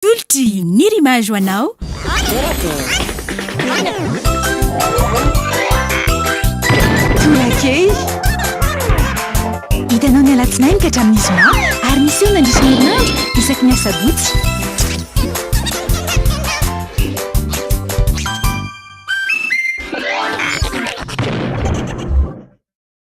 Tolotry ny rima jo anao. Tolakely. Hitanao ny alatsinainy ka hatramin'ny zoma ary miseho mandritra ny herinandro isaky ny asabotsy.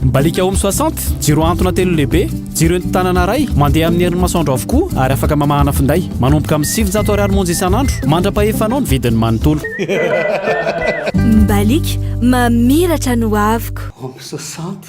Mibaliaka Home soixante, jiro antona telo lehibe, jiro entin-tanana iray, mandeha amin'ny herin'ny masoandro avokoa ary afaka mamahana finday. Manomboka amin'ny sivinjato ariary monja isan'andro. Mandra-pahefanao ny vidiny manontolo. Mibaliaka, mamiratra ny hoaviko. Home soixante,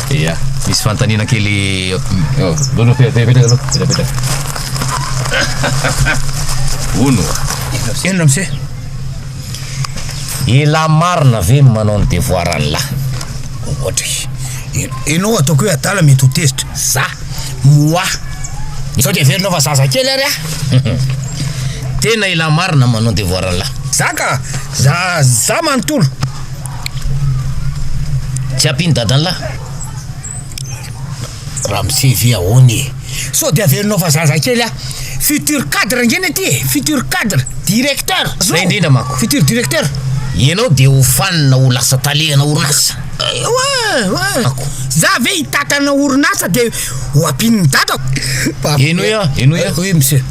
Ia, misy fanontaniana kely eo. Hono, petrapetraka aloha, petrapetraka. Hono, inona ramose? Elah marina ve ny manao ny devoir anlah? Ohatra e. Enao ataoko hoe adala mety ho tezitra. Za, moi. Sao dia heverinao fa zazakely ary aho? Tena elah marina ny manao ny devoir anlah. Za ka, za, za manontolo. Tsy ampy iny dadanlah. Ramose ve ahoana e? Sao de averinao fa zaza kely ah. Futur cadre ange ny aty e, futur cadre, directeur. Zay indrindra manko. Futur directeur. Ianao de ho fanina ho lasa tale ana orinasa. Ewa, ewa. Za ve hitatana orinasa de ho ampin'ny dadako. Enoy ah, enoy ah. Oui monsieur.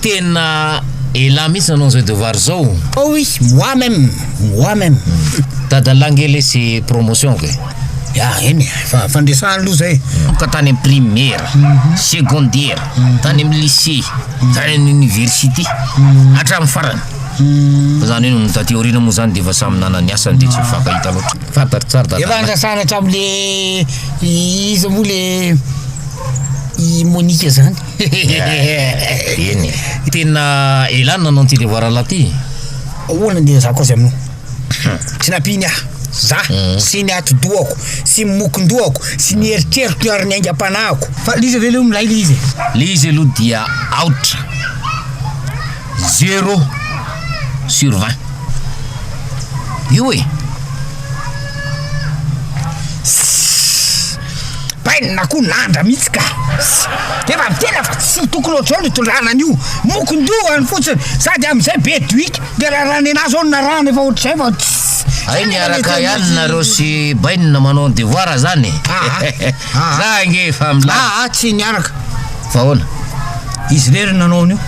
Tena elah mihitsy nanao an'izao devoir izao. Oh oui, moi même, moi même. Dadalah ange lesy promotion ko e. Ya eny e, fa fandresana aloha zay. Ka tany amin'ny primaire, secondaire, tany amin'ny lycée, tany amin'ny université, hatramin'ny farany. Fa zany hoe ny taty aoriana moa zany dia efa samy nanana ny asany dia tsy mifankahita loatra. Fantatro tsara Efa dadalah. andrasana hatramin'le iza moa le i Monica zany. Hehehehe. Eny e. Tena ela no nanao an'ity devoir lahy ity. Ahoana ny ezahako azy aminao? Tsy nampiany aho. Za sy ny atidohako sy ny mokondohako sy ny eritreriko ary ny aingam-panahiko. Fa l'izy ve leo milay le izy e? Le izy aloha dia aotra. Zéro sur vingt. Io e. Bainina koa nandra mihitsy ka. Efa midera fa tsy tokony ohatr'izao ny hitondrana an'io. Mokon-dohany fotsiny. Sady amin'izay be duique. Dia raha raha nenazy izao no narahana efa ohatr'izay vao tss. Hay miaraka ihany nareo sy bainina manao ny devoir zany e. Aa. Za ange efa milay. Aa tsy niaraka. Fa ahoana? Izy irery nanao an'io.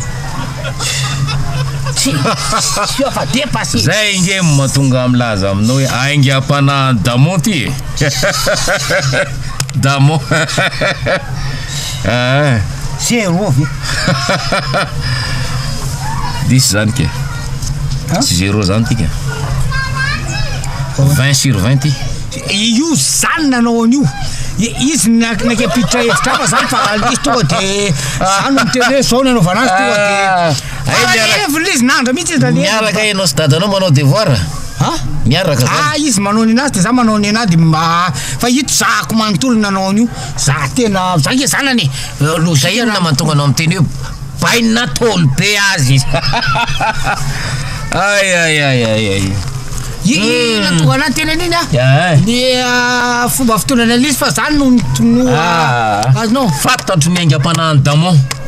Tsy tsy efa depasse. Zay ange no mahatonga ahy milaza aminao hoe aingam-panahin'i Damon ty e. Damo ah. Zéro ve? Diso zany ke. Tsy zéro zany tika. 20 sur 20 ty. Io zany nanao an'io. Izy nakepitra hevitra hafa zany fa izy tonga de zany miteny hoe zao nanaovana azy tonga de ah. Hay miaraka. Evo izy nandra mihitsy izy nalevo. Miaraka ianao sy dadanao manao devoir. Ha? Miaraka zany. Ah izy manao ny anazy de za manao ny anahy de ma fa ito zahako manontolo nanao an'io. Za tena za nge zanany. Logique inona mahatonga anao miteny hoe bainy na taolo be azy izy. Ay ay ay ay ay. Inona hmm. tonga anaty tena an'iny ah? Ny ah, fomba fitondrana an'izy fa zany no no ah. ah, azonao. Fantatro ny aingam-panahin'i Damon.